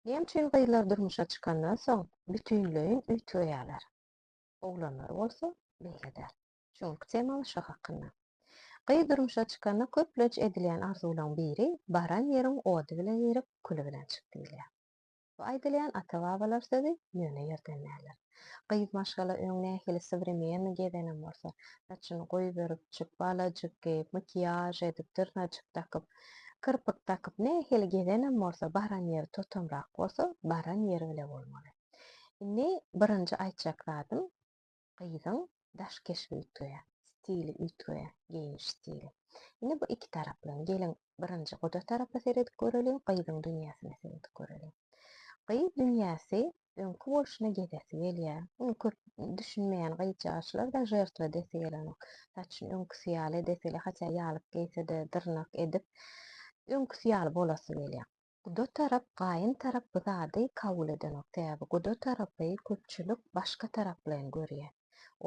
Näme üçin gyzlar durmuşa çykandan soň bütinleýin üýtgeýärler? Oglanlar bolsa beýle däl. Şuňluk temaly şo hakynda. Gyz durmuşa çykanda köplenç edilýän arzuwlaň biri baran ýeriň ody bilen girip küli bilen çyk diýilýär. Bu aýdylýan ata-babalar sözi ýöne ýerden däldir. Gyz maşgala öň nähili sowremenniý gezenem bolsa, saçyny goýberip, çypbalajyk geýip, makiýaž edip, dyrnajyk dakyp, kirpik dakyp, nähili gezenem bolsa, baran ýeri totamrak bolsa, baran ýeri bile bolmaly. Indi birinji aýtjak zadym, gyzyň daş keşbi üýtgeýär, stili üýtgeýär, geýiniş stili. Indi bu iki tarapdan geliň birinji guda tarapa seredip göreliň, gyzyň dünýäsine seredip göreliň. Gyz dünýäsi öňki bolşuna gezesi gelýär. Muny köp düşünmeýän gyzjagaçlar-da žertwa edesi gelenok. Saçyny öňküsi ýaly edeseli, hatýa ýalyk geýse-de, dyrnak edip, öňküsi ýaly bolasy gelýär. Guda tarap gaýyn tarap bu zady kabul edenok sebäbi guda tarapy köpçülik başga taraplaýyn görýä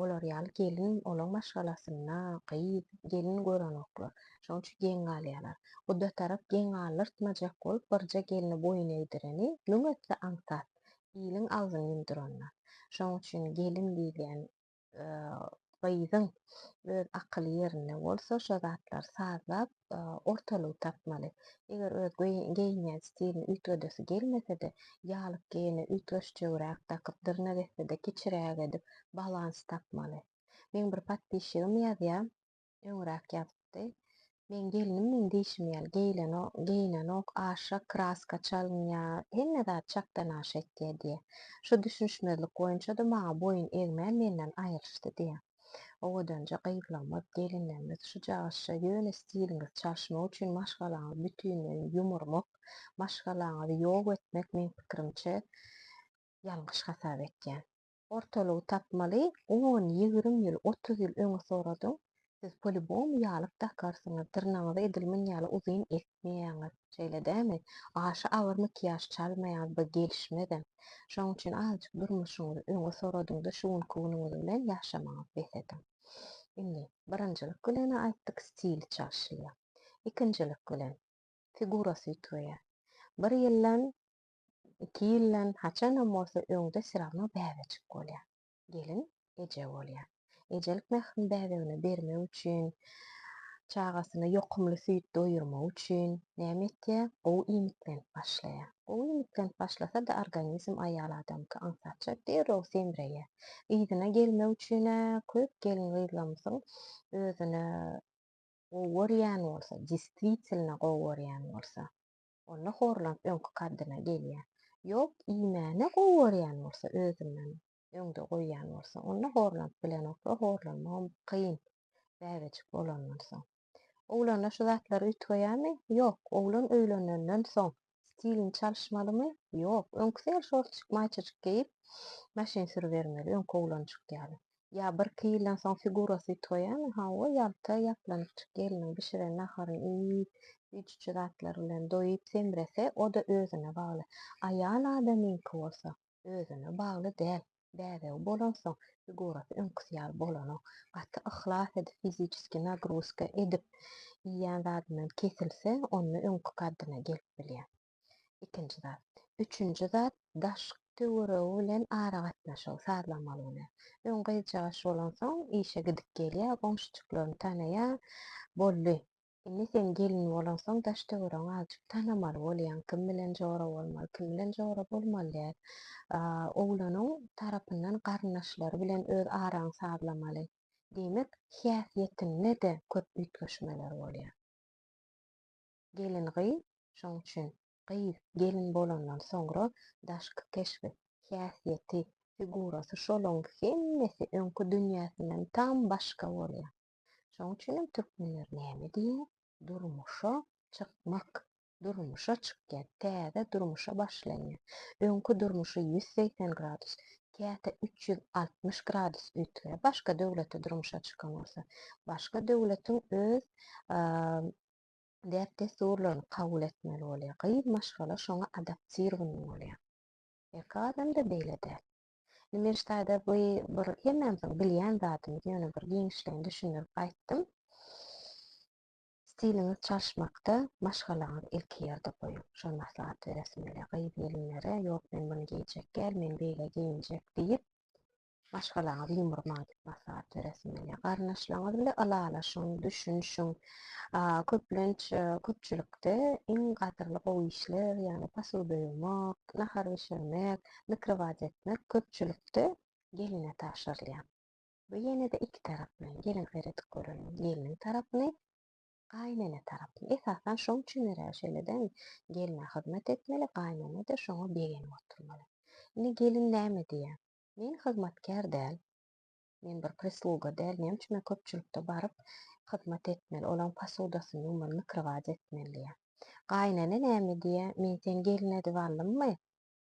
olar ýaly gelin olaň maşgalasynda gyz gelin görenoklar şoň üçin geň galýalar guda tarap geň galdyrtmajak bolup birje gelni boýun egdireni lüň etse aňsat iliň agzyn ýumduranda şoň üçin gelin diýilýän gyzyň öz akyly ýerinde bolsa, şo zatlary sazlap, ortalygy tapmaly. Eger öz geýinýän stilini üýtgedesi gelmese-de, ýalyk geýene üýtgeşjegräk dakyp, dyrnak etse-de kiçiräk edip, balans tapmaly. Meň bir podpişigim ýazýar. Öňräk ýazypdy. Meň gelnim meň diýşim ýaly geýlenok, geýnenok, aşa kraska çalynýar, hemme zat çakdan aşa etýär diýýär. Şu düşünişmezlik boýunça-da maňa boýun egmän menden aýrylyşdy diýýär. Owadanja gyzlygymyz, gelinlerimiz şu cagyşja ýöne stiliňizi çalyşmak üçin maşgalaňyzy bütinleýin ýumurmak, maşgalaňyzy ýok etmek meň pikirimçe ýalňyş hasap etýän. Ortalygy tapmaly on ýigrim ýyl otuz ýyl öňe soradyň siz polibom ýalyk dakarsyňyz dyrnagyňyzy edil mun ýaly uzyn etmeýäňiz şeýle dämi aşa agyr makiýaž çalmaýaňyz by gelişmezem şoň üçin azjyk durmuşyňyzy öňe soradyňda şu günki günüňiz bilen ýaşamaňyz bes ediň indi birinjilik bilene aýtdyk stili çalşylýa ikinjilik bilen figurasy üýtgeýä bir ýyldan Iki ýyldan haçanam bolsa öňde syrama bäbejik bolýar. Gelin eje bolýar. Ejelik mährini bäbegine bermek üçin, çagasyna ýokumly süýt doýurmak üçin näme etýär? Gowy iýmitlenip başlaýar. Gowy iýmitlenip başlasa-da, organizm aýal adamky aňsatça derrew semreýär. Yzyna gelmek üçin-ä köp gelin-gyzlarymyzyň özüne gowy görýän bolsa, deswitielno gowy görýän bolsa, Onda horlan öňki kaddyna gelýär. Ýok, iýmäni gowy görýän bolsa, özünden öňde goýýan bolsa, onda horlanyp bilenok we horlanmagam kyn, bäbejik bolandan soň. Oglanlar şu zatlary üýtgeýärmi? Ýok. Oglan öýlenenden soň stilini çalyşmalymy? Ýok. Öňküsi ýaly şortjik, maýçajyk geýip, maşyn sürübermeli, öňki oglanjyk ýaly. Ýa birki ýyldan soň figurasy itoýamy, hawa, ýalta ýaplanjyk gelniň bişiren naharyny iýip, süýjüçi zatlar bilen doýup-semrese, o-da özüne bagly. Aýal adamyňky bolsa, özüne bagly däl. Bäbegi bolansoň, figurasy öňküsi ýaly bolanok. Gaty yhlas edip, fiziçeskiý nagruzka edip iýen zadyndan kesilse, onda öňki kaddyna gelip bilýär. Ikinji zat. Üçünji zat, daşky töweregi bilen aragatnaşygy sazlamaly güne. Öň gyzjagaş bolansoň, işe gidip gelýär, goňşujyklaryny tanaýar. Boldy. Indi sen gelin bolansoň, daş-töweregiňi azajyk tanamaly bolýaň. Kim bilen jora bolmaly, kim bilen jora bolmaly däl. Oglanyň tarapyndan garyndaşlary bilen öz araňy sazlamaly. Diýmek, häsiýetinde-de köp üýtgeşmeler bolýar. Gelin-gyz, şoň üçin, gyz, gelin bolandan soňra daşky keşbi, häsiýeti, figurasy şolaň hemmesi öňki dünýäsinden tam başga bolýar. Şoň üçinem türkmenler näme diýýär, Durmuşa çykmak, durmuşa çykýar, täze durmuşa başlanýar. Öňki durmuşy ýüz segsen gradus, käte üç ýüz altmyş gradus üýtgär. Başga döwletde durmuşa çykan bolsa, başga döwletiň öz däp-dessurlaryny kabul etmeli bolýar. Gyz maşgala şoňa adaptirowany bolýar. Erkek adamda beýle däl. Indi men ştaýda bu bir hemmämiziň bilýän zadymyz, ýöne bir giňişleýin düşündirip aýtdym. Stiliňiz çalyşmakda maşgalaňyzy ilki ýerde goýuň. Şol maslahat beresim gelýär gyz-gelinlere, ýok men muny geýjek däl, men beýle geýinjek diýip, maşgalaňyzy ýumurmaň diýip maslahat beresiň gelýär. Garyndaşlaryňyz bilen ylalaşyň, düşünişiň. Köplenç köpçülikde iň gadyrly gowy işler, ýagny posuda ýuwmak, nahar bişirmek, mikrowaýt etmek köpçülikde geline tabşyrylýar. Bu ýene-de iki taraply. Geliň seredip göreliň. Gelniň tarapyny, gaýynene tarapyny. Esasan şoň üçin örä şeýle-de gelne hyzmat etmeli, gaýynene-de şoňa begenip oturmaly. Indi gelin näme diýýär? Men hyzmatkär däl. Men bir prisluga däl. Näme üçin men köpçülikde baryp, hyzmat etmeli, olaryň posudasyny ýuwmaly, mikrowazy etmeli? diýýär. Gaýynene näme diýýär? Men seni gelin edip aldymmy?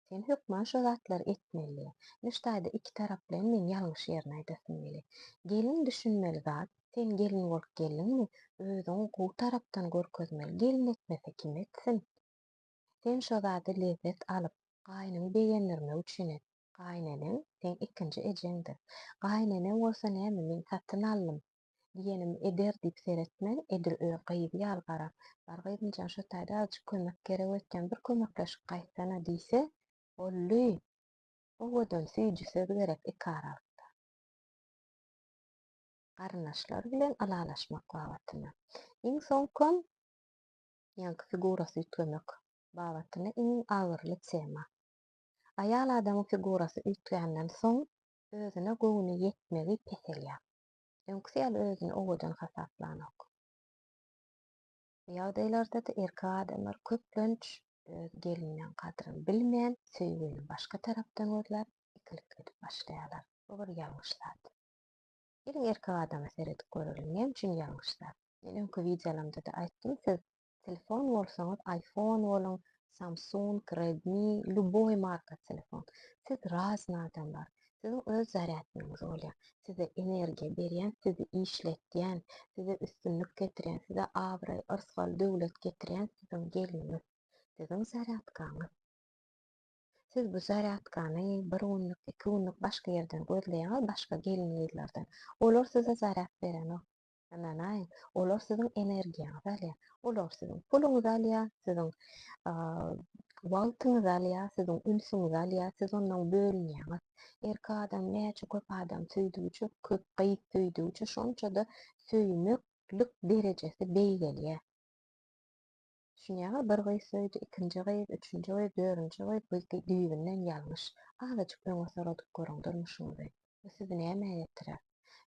Sen hökman şu zatlary etmeli diýýär. Ine, şu taýda iki taraplaýyn men ýalňyş ýerini aýdasym gelýär. Gelin düşünmeli zat, sen gelin bolup geldiňmi, özüňi gowy tarapdan görkezmeli, gelin etmese kim etsin? Sen şo zady lezzet alyp, gaýynyňy begendirmek üçin et. Gaýyneneň seň ikinji ejeňdir. Gaýyneneň bolsa näme men satyn aldym, diýenimi eder diýip seretmän, edil öz gyzy ýaly garar. Bar gyzymjan şo taýda azjyk kömek gerek öýtýän bir kömekleşip gaýtsana diýse, Bolly! Owadan süýji söz gerek iki aralykda. Garyndaşlar bilen ylalaşmak babatynda. Iň soňkam ýaňky figurasy üýtgemek babatda iň agyryly tema. Aýal adamyň figurasy üýtgänden soň özüne göwni ýetmegi peselýär. Öňküsi ýaly özüni owadan hasaplanok. Bu ýagdaýlarda-da erkek adamlar köplenç öz gelniniň gadryny bilmän, söýgini başga tarapdan gözläp, ikilik edip başlaýarlar. Bu bir ýalňyş zat. Geliň erkek adama seredip göreliň näme üçin ýalňyşlar. Men öňki wideolarymdada aýtdym siz telefon bolsaňyz iPhone boluň Samsung Redmi lýuboý marka telefon siz razny adamlar siziň öz zarýadnyňyz bolýar size energiýa berýän sizi işletýän size üstünlik getirýän size abraý yrsgal döwlet getirýän siziň gelniňiz siziň zarýadkaňyz. Siz bu zarýadkany bir günlük, iki günlük başga ýerden gözleýäňiz, başga gelin-gyzlardan. Olar size zarýad berenok. Ynanaýyň, olar siziň energiýaňyzy alýar. Olar siziň puluňyzy alýar, siziň wagtyňyzy alýar, siziň ünsüňizi alýar, siz ondan bölünýäňiz. Erkek adam näçe köp adam söýdügiçe, köp gyz söýdügiçe, şonça-da söýmeklik derejesi beýgelýär. Düşünýäňiz, bir gyz söýdi, ikinji gyz, üçünji gyz, dörünji gyz, bu düýbünden ýalňyş. Azajyk öňe soradyp görüň durmuşyňyzy. Bu sizi nämä getirer?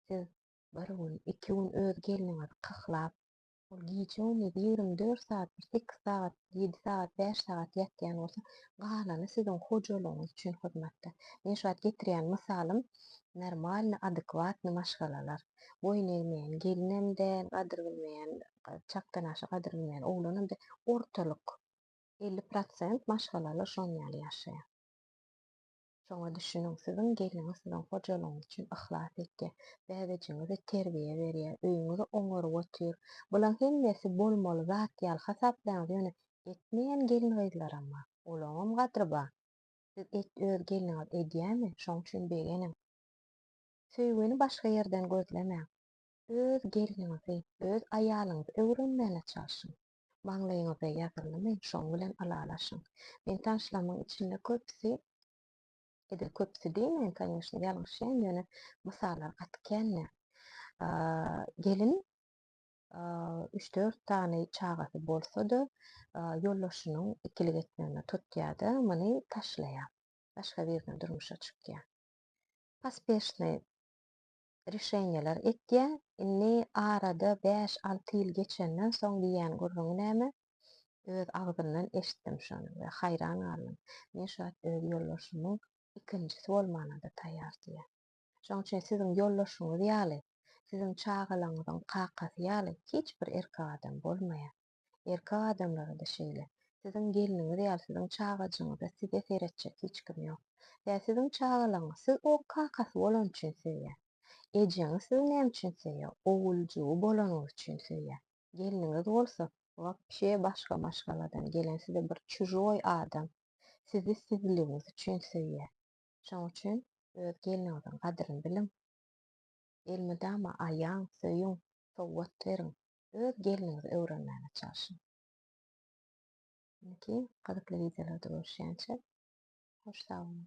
Siz bir gün, iki gün öz gelniňizi kyklap, ol gije-gündiz ýigrimi dört sagat, bir sekiz sagat, ýedi sagat, bäş sagat ýatýan bolsa, galany siziň hojalygyňyz üçin hyzmatda. Men şu wagt getirýän mysalym normalny, adekwatny maşgalalar. boýun egmeýän gelinem däl, gadyr bilmeýän, çakdan aşa gadyr bilmeýän oglanam däl, ortalyk, elli prosent maşgalalar şonuň ýaly ýaşaýar. Şoňa düşüniň, siziň gelniňiz siziň hojalygyňyz üçin yhlas etýär, bäbejigiňize terbiýe berýär, öýüňizi oňaryp otyr. Bulaň hemmesi bolmaly zat ýaly hasaplaýaňyz, ýöne etmeýän gelin-gyzlaram bar, olaňam gadyry bar. Siz et öz gelniňiz edýärmi? Şoň üçin begeniň. Söýgini başga ýerden gözlemäň. Öz gelniňizi, öz aýalyňyzy öwrenmäne çalşyň. Maňlaýyňyza ýazyldymy, şoň bilen ylalaşyň. Men tanyşlamyň içinde köpüsi, edil köpüsi diýmeýin, kanyşna, ýalňyşýan, ýöne mysallar gaty kän däl. Gelin üç-dört sany çagasy bolsa-da, ýoldaşynyň ikilik etmegine tutýar-da, muny taşlaýar. Başga birine durmuşa çykýar. Pospeshnıy rişenýeler etýä, indi arada bäş alty ýyl geçenden soň diýýän gürrüňi näme, öz agzyndan eşitdim şony we haýran galdym, men şu wagt öz ýoldaşymyň ikinjisi bolmana-da taýýar diýýä. Şoň üçin siziň ýoldaşyňyz ýaly, siziň çagalaňyzyň kakasy ýaly hiç bir erkek adam bolmaýar. Erkek adamlara-da şeýle. Siziň gelniňiz ýaly siziň çagajygyňyza size seretjek hiç kim ýok. Ýa siziň çagalaryňyz siz o kakasy bolany üçin söýýär. Ejeňiz sizi näme üçin söýýär? Oguljygy bolanyňyz üçin söýýär. Gelniňiz bolsa, wapşe başga maşgaladan gelen size bir çužoý adam. Sizi sizligiňiz üçin söýýär. Şoň üçin öz gelniňiziň gadryny biliň. Elmydama aýaň, söýüň, sowgat beriň, öz gelniňizi öwrenmäge çalşyň. Indiki gyzykly wideolarda görüşýänçä hoş sag boluň.